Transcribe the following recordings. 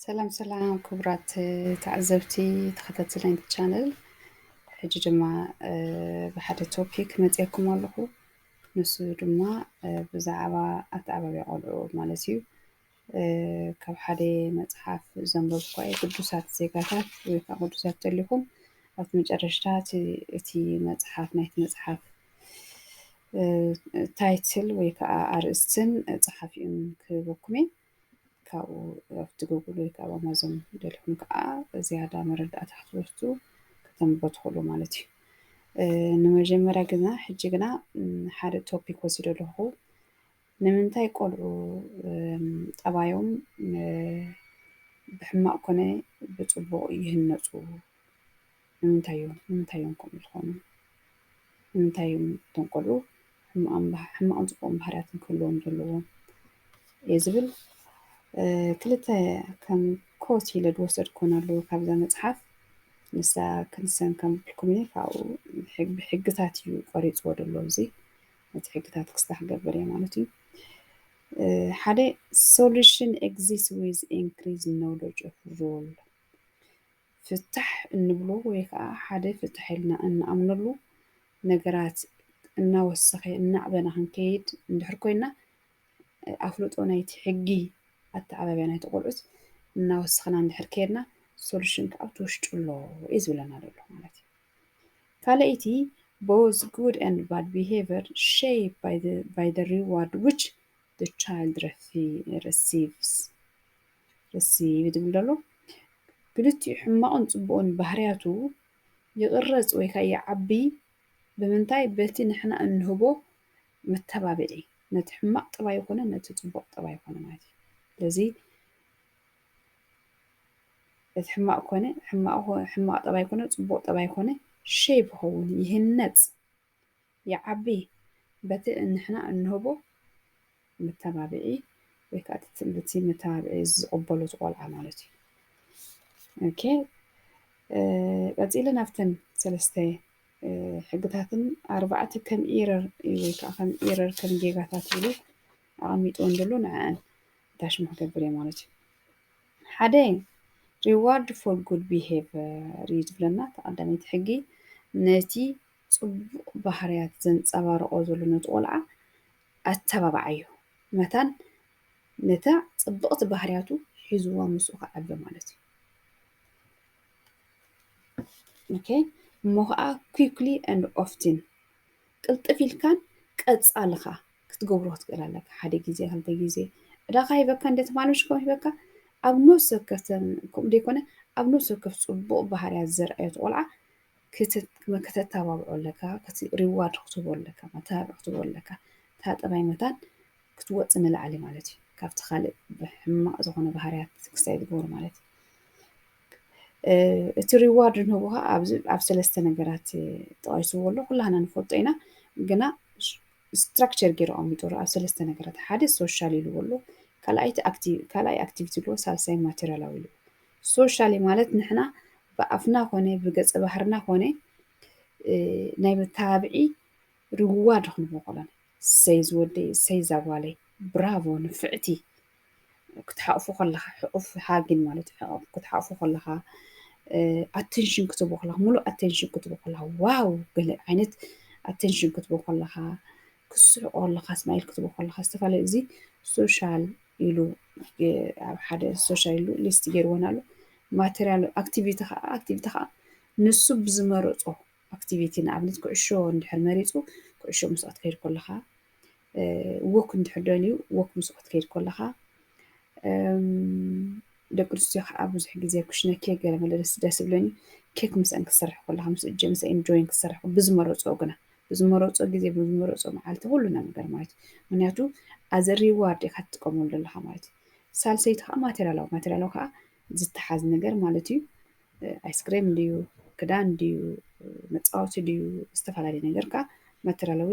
ሰላም ሰላም ክቡራት ተዓዘብቲ ተኸታተልቲ ናይቲ ቻነል ሕጂ ድማ ብሓደ ቶፒክ መፅየኩም ኣለኹ ንሱ ድማ ብዛዕባ ኣተዓባብያ ቆልዑ ማለት እዩ ካብ ሓደ መፅሓፍ ዘንበብኳ እዩ ቅዱሳት ዜጋታት ወይ ከዓ ቅዱሳት ተሊኹም ኣብቲ መጨረሽታ እቲ መፅሓፍ ናይቲ መፅሓፍ ታይትል ወይ ከዓ ኣርእስትን ፀሓፊኡን ክህበኩም እየ ካብኡ ኣብቲ ጉግል ወይ ከዓ ኣማዞን ደልኩም ከዓ ዝያዳ መረዳእታ ክትወስዱ ከተንብቦ ትኽእሉ ማለት እዩ ንመጀመርያ ግና ሕጂ ግና ሓደ ቶፒክ ወሲዶ ኣለኹ ንምንታይ ቆልዑ ጠባዮም ብሕማቅ ኮነ ብፅቡቅ ይህነፁ ንምንታይ እዮም ንምንታይ እዮም ከምኡ ዝኾኑ ንምንታይ እዮም እቶም ቆልዑ ሕማቅን ፅቡቅን ባህርያት ክህልዎም ዘለዎ እየ ዝብል ክልተ ከም ኮት ኢለ ዝወሰድኩን ኣለዎ ካብዛ መፅሓፍ ንሳ ክንሰን ከም ብልኩም ካብኡ ብሕግታት እዩ ቆሪፅዎ ዘሎ እዚ ነቲ ሕግታት ክስታ ክገብር እየ ማለት እዩ ሓደ ሶሉሽን ኤግዚስት ዊዝ ኢንክሪዝ ኖሎጅ ኦፍ ሩል ፍታሕ እንብሎ ወይ ከዓ ሓደ ፍታሕ ኢልና እንኣምነሉ ነገራት እናወሰኸ እናዕበና ክንከይድ እንድሕር ኮይና ኣፍልጦ ናይቲ ሕጊ ኣተዓባብያ ናይቲ ቆልዑት እናወሰኽና እንድሕር ከይድና ሶሉሽን ከዓ ኣብቲ ውሽጡ ኣሎ እዩ ዝብለና ዘሎ ማለት እዩ ካልኣይቲ ቦዝ ጉድ ኤንድ ባድ ቢሄቨር ሸይፕ ባይ ዘ ሪዋርድ ዊች ዘ ቻይልድ ረሲቭስ ዝብል ዶ ኣሎ? ክልቲኡ ሕማቕን ጽቡቕን ባህርያቱ ይቕረጽ ወይ ከኣ ይዓቢ ብምንታይ? በቲ ንሕና እንህቦ መተባብዒ ነቲ ሕማቕ ጠባዩ ኮነ ነቲ ጽቡቕ ጠባዩ ኮነ ማለት እዩ። ስለዚ። እቲ ሕማቕ ኮነ ሕማቕ ሕማቕ ጠባይ ኮነ ጽቡቕ ጠባይ ኮነ ሼብ ይኸውን ይህነጽ ይዓቢ በቲ ንሕና እንህቦ መተባብዒ ወይ ከኣ እቲ መተባብዒ ዝቕበሎ እቲ ቆልዓ ማለት እዩ። ኦኬ ቀጺለ ናብተን ሰለስተ ሕግታትን ኣርባዕተ ከም ኢረር ወይ ከዓ ከም ኢረር ከም ጌጋታት ኢሉ ኣቐሚጥዎን ዘሎ ንዕኣን ታሽሙ ክገብር እየ ማለት እዩ ሓደ reward for good behavior እዩ ዝብለና እቲ ቀዳመይቲ ሕጊ ነቲ ጽቡቕ ባህርያት ዘንጸባርቖ ዘሎ ነቲ ቆልዓ ኣተባብዓዮ መታን ነታ ጽብቕቲ ባህርያቱ ሒዝዋ ምስኡ ክዓቢ ማለት እዩ ኦኬ እሞ ከዓ quickly and often ቅልጥፍ ኢልካን ቀጻልኻ ክትገብሮ ክትክእል ኣለካ ሓደ ግዜ ክልተ ግዜ ዕዳኻ ሂበካ እንደ ትማልምሽ ከም ሂበካ ኣብ ነፍሲ ወከፍ ከምኡ ዘይኮነ ኣብ ነፍሲ ወከፍ ጽቡቕ ባህርያት ዘርኣየት ቆልዓ ከተተባብዖ ኣለካ ሪዋርድ ክትህቦ ኣለካ መተባብዒ ክትህቦ ኣለካ እታ ጠባይ መታን ክትወጽእ ንላዕሊ ማለት እዩ ካብቲ ካልእ ሕማቕ ዝኾነ ባህርያት ክሳይ ዝገብሩ ማለት እዩ እቲ ሪዋርድ ንህቡ ከዓ ኣብዚ ኣብ ሰለስተ ነገራት ጠቂስዎ ኣሎ ኩላህና ንፈልጦ ኢና ግና ስትራክቸር ገይሩ ኣቐሚጡ ኣሎ ኣብ ሰለስተ ነገራት ሓደ ሶሻል ኢልዎ ኣሎ ካልኣይቲ ካልኣይ ኣክቲቪቲ ኢልዎ ሳልሳይ ማቴሪያላዊ ኢልዎ ሶሻሊ ማለት ንሕና ብኣፍና ኮነ ብገፀ ባህርና ኮነ ናይ መተባብዒ ርዋድ ክንቦቆለን ሰይ ዝወደይ ሰይ ዛጓለይ ብራቮ ንፍዕቲ ክትሓቑፎ ከለኻ ሕቑፍ ሃጊን ማለት ክትሓቑፎ ከለኻ ኣቴንሽን ክትቦ ከለኻ ሙሉእ ኣቴንሽን ክትቦ ከለኻ ዋው ገለ ዓይነት ኣቴንሽን ክትቦ ከለኻ ክስሕቆ ከለኻ ስማይል ክትቦ ከለኻ ዝተፈላለዩ እዚ ሶሻል ኢሉ ኣብ ሓደ ሶሻል ኢሉ ሊስት ገይርዎን ኣሎ ማቴሪያል ኣክቲቪቲ ከዓ ኣክቲቪቲ ከዓ ንሱ ብዝመረፆ ኣክቲቪቲ ንኣብነት ኩዕሾ እንድሕር መሪፁ ኩዕሾ ምስኣት ከይድ ከለኻ ወክ እንድሕር ደልዩ ወክ ምስ ክትከይድ ከለኻ ደቂ ኣንስትዮ ከዓ ብዙሕ ግዜ ኩሽነ ኬክ ገለ መለ ደስ ዝብለኒ ኬክ ምስአን ክትሰርሕ ከለኻ ምስ እጀ ምስ ኢንጆይን ክትሰርሕ ብዝመረፅኦ ግና ብዝመረፆ ግዜ ብዝመረፆ መዓልቲ ኩሉ ነገር ማለት እዩ ምክንያቱ ኣዘ ሪዋርድ ኢካ ትጥቀመሉ ኣለካ ማለት እዩ ሳልሰይቲ ከዓ ማቴሪያላዊ ማቴሪያላዊ ከዓ ዝተሓዝ ነገር ማለት እዩ ኣይስክሬም ድዩ ክዳን ድዩ መፃወቲ ድዩ ዝተፈላለዩ ነገር ከዓ ማቴሪያላዊ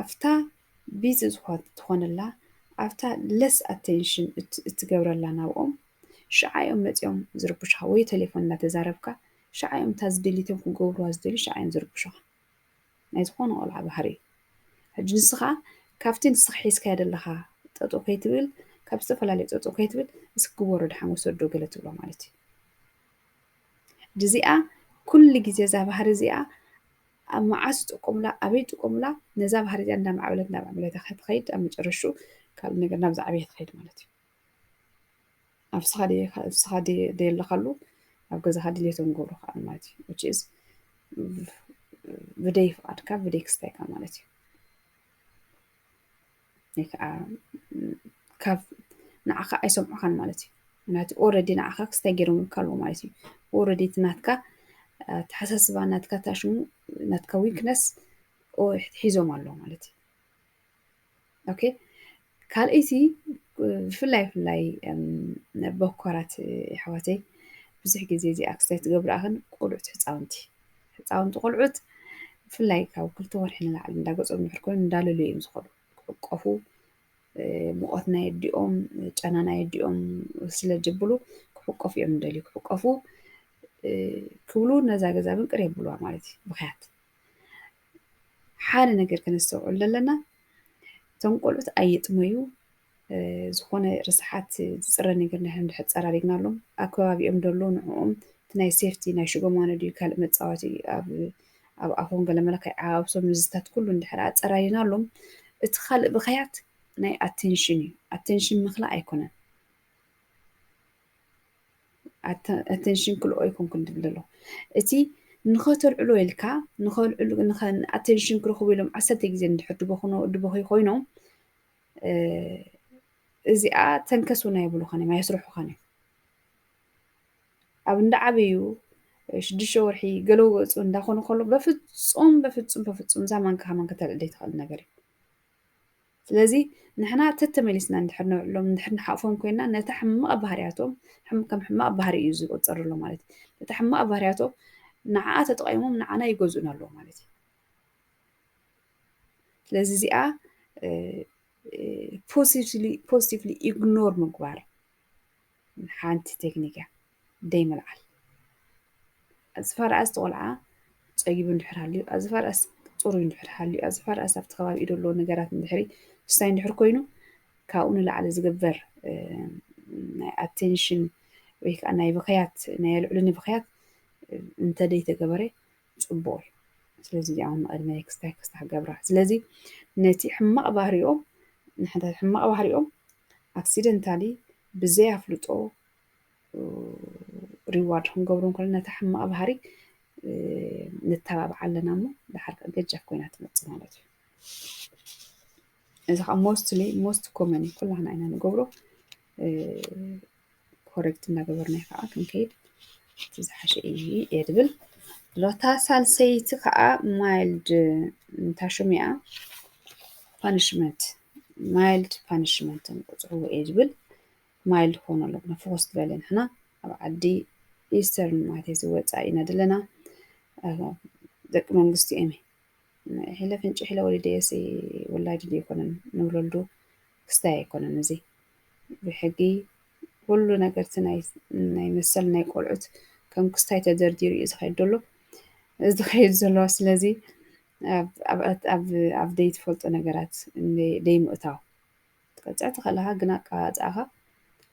ኣብታ ቢዚ ትኾነላ ኣብታ ለስ ኣቴንሽን እትገብረላ ናብኦም ሽዓ እዮም መፂኦም ዝርብሹኻ ወይ ቴሌፎን እናተዛረብካ ሽዓ እዮም እታ ዝደልይቶም ክገብሩዋ ዝደልዩ ሽዓ እዮም ዝርብሹኻ ናይ ዝኾነ ቆልዓ ባህሪ እዩ ሕጂ ንስኻ ካብቲ ንስኻ ሒዝካዮ ዘለኻ ጠጠው ከይትብል ካብ ዝተፈላለዩ ጠጠው ከይትብል እስኪ ግበሮ ድሓን ወሰዶ ገለ ትብሎ ማለት እዩ ድዚኣ ኩሉ ግዜ እዛ ባህሪ እዚኣ ኣብ መዓስ ይጥቀሙላ ኣበይ ይጥቀሙላ ነዛ ባህሪ እዚኣ እንዳማዕበለት እንዳማዕበለት እያ ክትኸይድ ኣብ መጨረሽኡ ካልእ ነገር ናብ ዝዓበየ ትኸይድ ማለት እዩ ኣብስኻ ኣብስኻ ደየለኻሉ ኣብ ገዛኻ ድሌቶም ገብሩ ከዓ ማለት እዩ ዊች ኢዝ ብደይ ፍቓድካ ብደይ ክስታይካ ማለት እዩ ወይ ከዓ ካብ ንዓኻ ኣይሰምዑኻን ማለት እዩ ምክንያቱ ኦረዲ ንዓኻ ክስተ ገይሮምልካ ኣለዎ ማለት እዩ ኦረዲ እቲ ናትካ ተሓሳስባ ናትካ ታሽሙ ናትካ ዊክነስ ሒዞም ኣለዎ ማለት እዩ ኦኬ ካልእቲ ብፍላይ ብፍላይ በኮራት የሕዋተይ ብዙሕ ግዜ እዚ ኣክስታይ ትገብራኣኽን ቆልዑት ህፃውንቲ ህፃውንቲ ቆልዑት ብፍላይ ካብ ክልተ ወርሒ ንላዕሊ እንዳ ገፆም ድሕር ኮይኑ እንዳለሉ እዮም ዝኸዱ ክዕቆፉ ሙቐት ናይ ኣዲኦም ጨና ናይ ኣዲኦም ስለ ጀብሉ ክዕቆፉ እዮም እንደልዩ ክዕቆፉ ክብሉ ነዛ ገዛ ግን ቅር የብሉዋ ማለት እዩ ምክንያት ሓደ ነገር ከነስተውዕል ዘለና እቶም ቆልዑት ኣይጥመዩ ዝኾነ ርስሓት ዝጽረ ነገር ንሕና እንድሕር ጸራሪግናሎም ኣብ ከባቢኦም ደሎ ንዕኦም እቲ ናይ ሴፍቲ ናይ ሽጎማኖ ድዩ ካልእ መጻወቲ ኣብ ኣብ ኣፎም ገለ መለ ከይዓባብሶም ንዝታት ኩሉ እንድሕር ኣጸራሪናሎም እቲ ካልእ ብኸያት ናይ ኣቴንሽን እዩ ኣቴንሽን ምኽላእ ኣይኮነን ኣቴንሽን ክልኦ ኣይኮንኩን ትብል ዘሎ እቲ ንኸተልዕሎ ኢልካ ንኸልዕሉ ኣቴንሽን ክረኽቡ ኢሎም ዓሰርተ ግዜ እንድሕር ድበኹኖ ድበኺ ኮይኖም እዚኣ ተንከስ እውን ኣይብሉኻን እዮም ኣየስርሑኻን እዮም ኣብ እንዳ ዓበዩ ሽዱሽተ ወርሒ ገለው ገፁ እንዳኾኑ ከሎ በፍፁም በፍፁም በፍፁም እዛ ማንካ ከማን ከተልዕል ዘይትኽእል ነገር እዩ ስለዚ ንሕና ተተመሊስና እንድሕር ነብዕሎም እንድሕር ንሓቕፎም ኮይና ነታ ሕማቕ ባህርያቶም ከም ሕማቕ ባህሪ እዩ ዝቆፀር ኣሎ ማለት እዩ ነታ ሕማቕ ባህርያቶም ንዓኣ ተጠቂሞም ንዓና ይገዝኡና ኣለዎ ማለት እዩ ስለዚ እዚኣ ፖዚቲቭሊ ኢግኖር ምግባር ሓንቲ ቴክኒክ እያ ደይምልዓል ኣዝፋርኣስ ቆልዓ ፀጊቡ እንድሕር ሃልዩ ኣዝፋርኣስ ፅሩይ እንድሕር ሃልዩ ኣዝፋርኣስ ኣብቲ ከባቢ ኢዶ ኣለዎ ነገራት እንድሕሪ ምስታይ እንድሕር ኮይኑ ካብኡ ንላዕሊ ዝግበር ናይ ኣቴንሽን ወይ ከዓ ናይ ብክያት ናይ ኣልዕሉ ንብክያት እንተደይተገበረ ፅቡቕ እዩ ስለዚ እዚኣውን ንቕድመ ክስታይ ክስታ ክገብራ ስለዚ ነቲ ሕማቕ ባህሪኦም ንሕንታት ሕማቕ ባህሪኦም ኣክሲደንታሊ ብዘይ ኣፍልጦ ሪዋርድ ክንገብሮም ከሎ ነታ ሕማቕ ባህሪ ንተባብዓ ኣለና እሞ ድሓር ከ ገጃፍ ኮይና ትመፅእ ማለት እዩ እዚ ከዓ ሞስትሊ ሞስት ኮመን ኩላህና ኢና ንገብሮ ኮሬክት እናገበርና ከዓ ክንከይድ እቲ ዝሓሸ እዩ እየ ድብል ሎታ ሳልሰይቲ ከዓ ማይልድ እንታሽም እያ ፓኒሽመንት ማይልድ ፓኒሽመንት ንቁፅርዎ እየ ዝብል ማይልድ ክኾኑ ኣለኩ ንፎከስ ዝበለ ንሕና ኣብ ዓዲ ኢስተርን ማለት እዩ ዝወፃእ ኢና ዘለና ደቂ መንግስቲ እዮም ሒለ ፍንጭ ሒለ ወሊደየሲ ውላድ ድዩ ኣይኮነን ንውለልዱ ክስታይ ኣይኮነን እዚ ብሕጊ ኩሉ ነገርቲ ናይ መሰል ናይ ቆልዑት ከም ክስታይ ተደርዲሩ እዩ ዝኸይድ ዘሎ ዝኸይድ ዘለዋ ስለዚ ኣብ ዘይትፈልጦ ነገራት ደይምእታው ክትቀጽዕ ትኽእል ኢኻ ግን ኣቀማጽኣኻ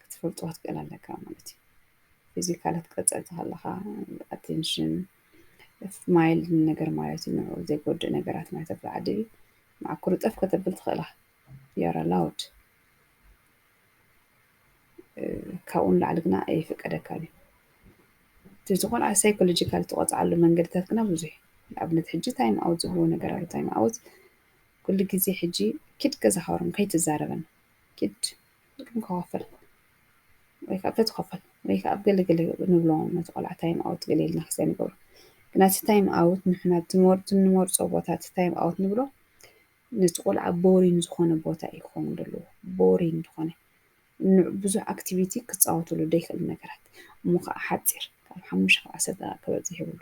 ክትፈልጦ ክትክእል ኣለካ ማለት እዩ። ፊዚካል ክትቀጽዕ ተኸለኻ ኣቴንሽን ማይልድ ነገር ማለት እዩ ንዕኡ ዘይጎድእ ነገራት ናይ ተብሎ ዓዲ ማዕኩር ጠፍ ከተብል ትኽእል ኢኻ ዩኣር ኣላውድ ካብኡ ንላዕሊ ግና ኣይፍቀደካን እዩ እቲ ዝኾነ ሳይኮሎጂካል ትቆፅዓሉ መንገድታት ግና ብዙሕ እዩ ንኣብነት ሕጂ ታይም ኣውት ዝብልዎ ነገር ኣሎ ታይም ኣውት ኩሉ ግዜ ሕጂ ኪድ ገዛካ ወርም ከይትዛረበን ኪድ ኪድ ከከፍል ወይ ከኣ ተትከፈል ወይ ከኣ ኣብ ገለ ገለ ንብሎም ነቲ ቆልዓ ታይም ኣውት ገለ ኢልና ክስታይ ንገብሮ ግና እቲ ታይም ኣውት ንሕና እቲ ንመርጾ ቦታ እቲ ታይም ኣውት ንብሎ ነቲ ቆልዓ ቦሪን ዝኾነ ቦታ እዩ ክኸውን ዘለዎ ቦሪን ዝኾነ ብዙሕ ኣክቲቪቲ ክፃወትሉ ደይክእል ነገራት እሞ ከዓ ሓፂር ካብ ሓሙሽተ ካብ ዓሰርተ ደቂቃ ክበዝሕ የብሉ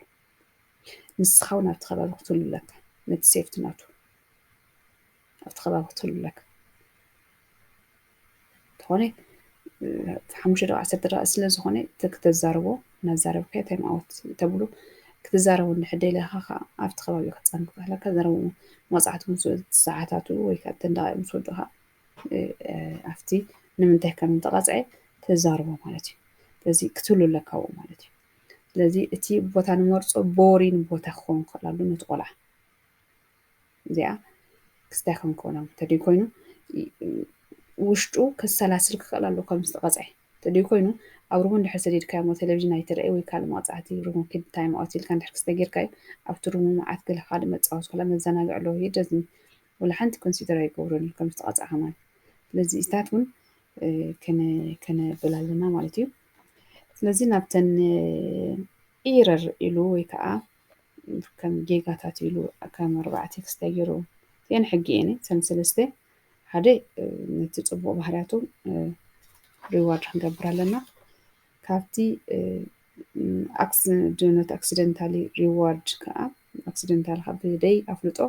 ንስኻ እውን ኣብቲ ከባቢ ክትህሉ ኣለካ ነቲ ሴፍቲ ናቱ ኣብቲ ከባቢ ክትህሉ ኣለካ እንተኾነ ሓሙሽተ ደቂ ዓሰርተ ደቂ ስለ ዝኾነ ክተዛርቦ እናዛረብካ እንታይ መዓወት ተብሉ ክትዛረቡ እንድሕር ደለኻ ከዓ ኣብቲ ከባቢ ክትፀን ክትኽለካ ዘረቡ መፅዓቱ ምስ ሰዓታቱ ወይ ከዓ እተን ደቃይቅ ምስ ወድኻ ኣብቲ ንምንታይ ከም ዝተቐፅዐ ተዛርቦ ማለት እዩ ስለዚ ክትህሉ ኣለካ ማለት እዩ ስለዚ እቲ ቦታ ንመርፆ ቦሪን ቦታ ክኸውን ክኽእል ኣሎ ነቲ ቆልዓ እዚኣ ክስታይ ክኸውን ክኽእል ኣሎ እንተደይ ኮይኑ ውሽጡ ከሰላስል ክኽእል ኣሎ ከም ዝተቐፅዐ እንተደይ ኮይኑ ኣብ ሩሙ እንድሕር ሰዲድካዮ ቴሌቪዥን ኣይትርኣይ ወይ ካልእ መቕፃዕቲ ሩሙ ኪድ ታይም ኣውት ኢልካ እንድሕር ክስተ ጌርካዮ ኣብቲ ሩሙ መዓት ገለ ካልእ መፃወቲ ኮላ መዘናግዒ ኣለዎ ሂ ደዝን ወላ ሓንቲ ኮንሲደር ኣይገብሮን እዩ ከም ዝተቐፅዐ ማለት ስለዚ እዚታት እውን ከነበላ ኣለና ማለት እዩ ስለዚ ናብተን ኢረር ኢሉ ወይ ከዓ ከም ጌጋታት ኢሉ ከም ኣርባዕተ ክስተ ገይሩ እቲአን ሕጊ እየን እተን ሰለስተ ሓደ ነቲ ፅቡቅ ባህርያቱ ሪዋርድ ክንገብር ኣለና ካብቲ ነቲ ኣክሲደንታሊ ሪዋርድ ከዓ ኣክሲደንታል ካብ ደይ ኣፍልጦ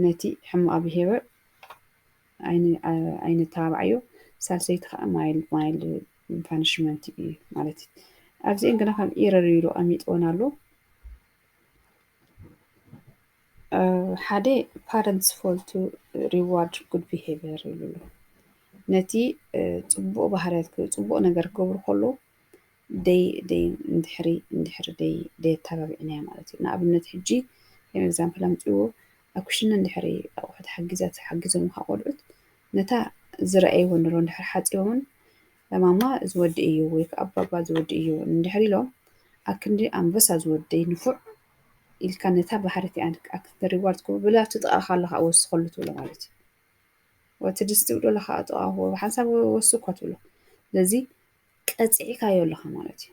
ነቲ ሕማቅ ብሄበር ኣይነተባባዕዮ ሳልሰይቲ ከዓ ማይል ማይል ፓኒሽመንት እዩ ማለት እዩ ኣብዚአን ግና ከም ኢረር ኢሉ ኣሚጥወን ኣሎ ሓደ ፓረንትስ ፎል ቱ ሪዋርድ ጉድ ቢሄቨር ይብሉ ኣሎ ነቲ ፅቡቅ ባህርያት ፅቡቅ ነገር ክገብሩ ከሎ ደይ ደይ እንድሕሪ እንድሕሪ ደይ ደይ ኣተባቢዕና እያ ማለት እዩ ንኣብነት ሕጂ ከም ኤግዛምፕል ኣምፅዎ ኣብ ክሽነ እንድሕሪ ኣቑሑ ተሓጊዛ ተሓጊዞም ካ ቆልዑት ነታ ዝረኣይዎ ንሮ እንድሕር ሓጺቦምን ለማማ እዚ ወዲ እዩ ወይ ከዓ ኣባባ እዚ ወዲ እዩ እንድሕር ኢሎም ኣክንዲ ኣንበሳ ዝወደይ ንፉዕ ኢልካ ነታ ባህሪት እያ ኣክንዲ ሪዋርድ ትገብሩ ብላ ኣብቲ ጥቓኻ ኣሎ ከዓ ወስኸሉ ትብሎ ማለት እዩ ወቲ ድስቲ ውዶ ኣለኻ ጥቓኹ ሓንሳብ ወሱ እኳ ትብሎ ስለዚ ቀፂዕካዮ ኣለኻ ማለት እዩ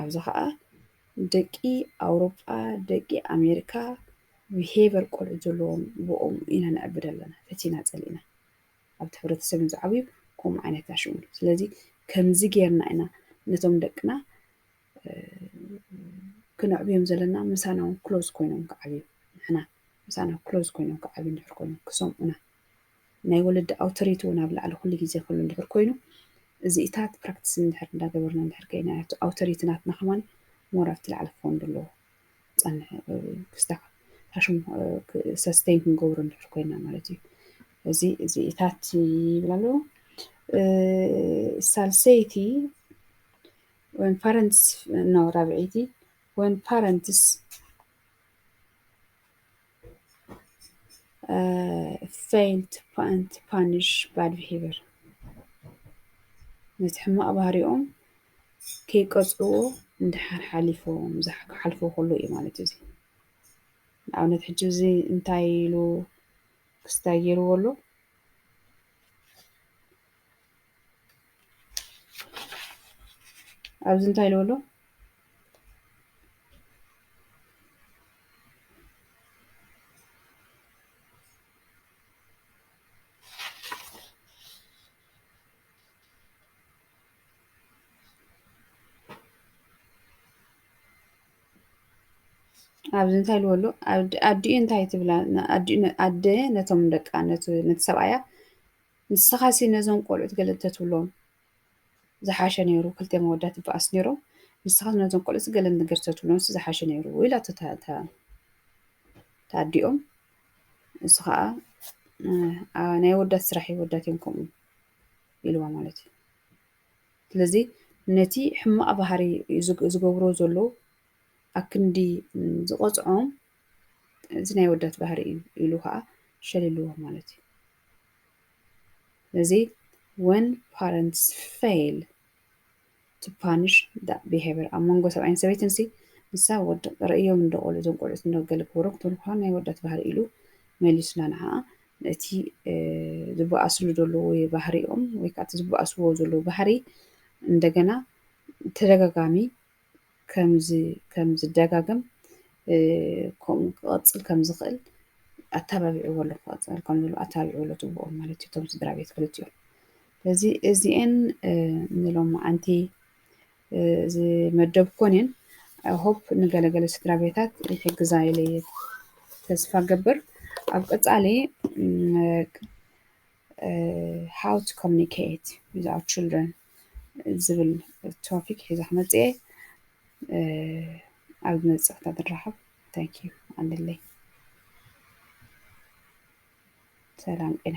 ኣብዚ ኸኣ ደቂ ኣውሮጳ ደቂ ኣሜሪካ ብሄቨር ቆልዑ ዘለዎም ብኦም ኢና ንዕብድ ኣለና ፈቲና ጸሊእና ኣብቲ ሕብረተሰብ ዝዓብዩ ከምኡ ዓይነት ኣሽሙ ስለዚ ከምዚ ጌርና ኢና ነቶም ደቅና ክነዕብዮም ዘለና ምሳና እውን ክሎዝ ኮይኖም ክዓብዩ ንሕና ምሳና ክሎዝ ኮይኖም ክዓብዩ እንድሕር ኮይኖም ክሰምዑና ናይ ወለዲ ኣውቶሪቲ እውን ኣብ ላዕሊ ኩሉ ግዜ ክህሉ እንድሕር ኮይኑ እዚኢታት ፕራክቲስ እንድሕር እንዳገበርና እንድሕር ከይና እቲ ኣውቶሪቲ ናትና ከማን ሞር ኣብቲ ላዕሊ ክኸውን ዘለዎ ፀንሕ ክስታካ ሓሽም ሰስተይን ክንገብሮ እንድሕር ኮይና ማለት እዩ እዚ እዚኢታት ይብል ኣሎ ሳልሰይቲ ወን ፓረንትስ ነው ራብዒይቲ ወን ፓረንትስ ፌል ቱ ፓኒሽ ባድ ብሄቨር ነቲ ሕማቕ ባህሪኦም ከይቀፅዎ እንድሓር ሓሊፎም ክሓልፎ ከሎ እዩ ማለት እዩ። ንኣብነት ሕጂ እዚ እንታይ ኢሉ ክስታይ ገይርዎ ኣሎ ኣብዚ እንታይ ኢልዎ ኣሎ ኣብዚ እንታይ ኢልዎ ኣሎ ኣዲኡ እንታይ ትብላ ኣደ ነቶም ደቃ ነቲ ሰብኣያ ንስኻሲ ነዞም ቆልዑት ገለ እንተትብሎም ዝሓሸ ነይሩ ክልቲኦም ኣወዳት ይበኣሱ ነይሮም ንስኻስ ነዞም ቆልዑትሲ ገለ ነገር ተትብሎምሲ ዝሓሸ ነይሩ ኢላቶ ተኣዲኦም ንሱ ከዓ ናይ ኣወዳት ስራሕ እዩ ኣወዳት እዮም ከምኡ ኢልዋ ማለት እዩ ስለዚ ነቲ ሕማቕ ባህሪ ዝገብሮ ዘሎ ኣክንዲ ዝቖፅዖም እዚ ናይ ኣወዳት ባህሪ እዩ ኢሉ ከዓ ሸሊልዎ ማለት እዩ እዚ ወን ፓረንትስ ፈይል ቱ ፓንሽ ዳት ቢሀቨር ኣብ መንጎ ሰብኣይን ሰበይትን ሲ ንሳ ወዲ ርእዮም እንዶ ቆልዑ እዞም ቆልዑት እንዶ ገለ ክገብሩ ክትብሉ ከለኩም ናይ ኣወዳት ባህሪ ኢሉ መሊሱላ ንዓኣ ነቲ ዝበኣስሉ ዘለዉ ባህሪኦም ወይ ከዓ እቲ ዝበኣስዎ ዘለዉ ባህሪ እንደገና ተደጋጋሚ ከምዚ ከም ዝደጋገም ከምኡ ክቐፅል ከም ዝኽእል ኣተባቢዕዎ ኣሎ ክቐፅል ከም ዘለዎ ኣተባቢዕዎ ኣሎ ትብኦም ማለት እዩ እቶም ስድራ ቤት ክልቲኦም ስለዚ እዚኤን ንሎማዓንቲ ዝመደብኮን እየን ሆፕ ንገለገለ ስድራ ቤታት ይሕግዛ ኢለ ተስፋ ገብር ኣብ ቀፃሊ ሃው ቱ ኮሚኒኬት ዊዝ ኣወር ችልድረን ዝብል ቶፒክ ሒዘ ክመፅእ እየ ኣብ ዝመፅእ ክታ ንራኸብ ታንክ ዩ ኣለለይ ሰላም ጤና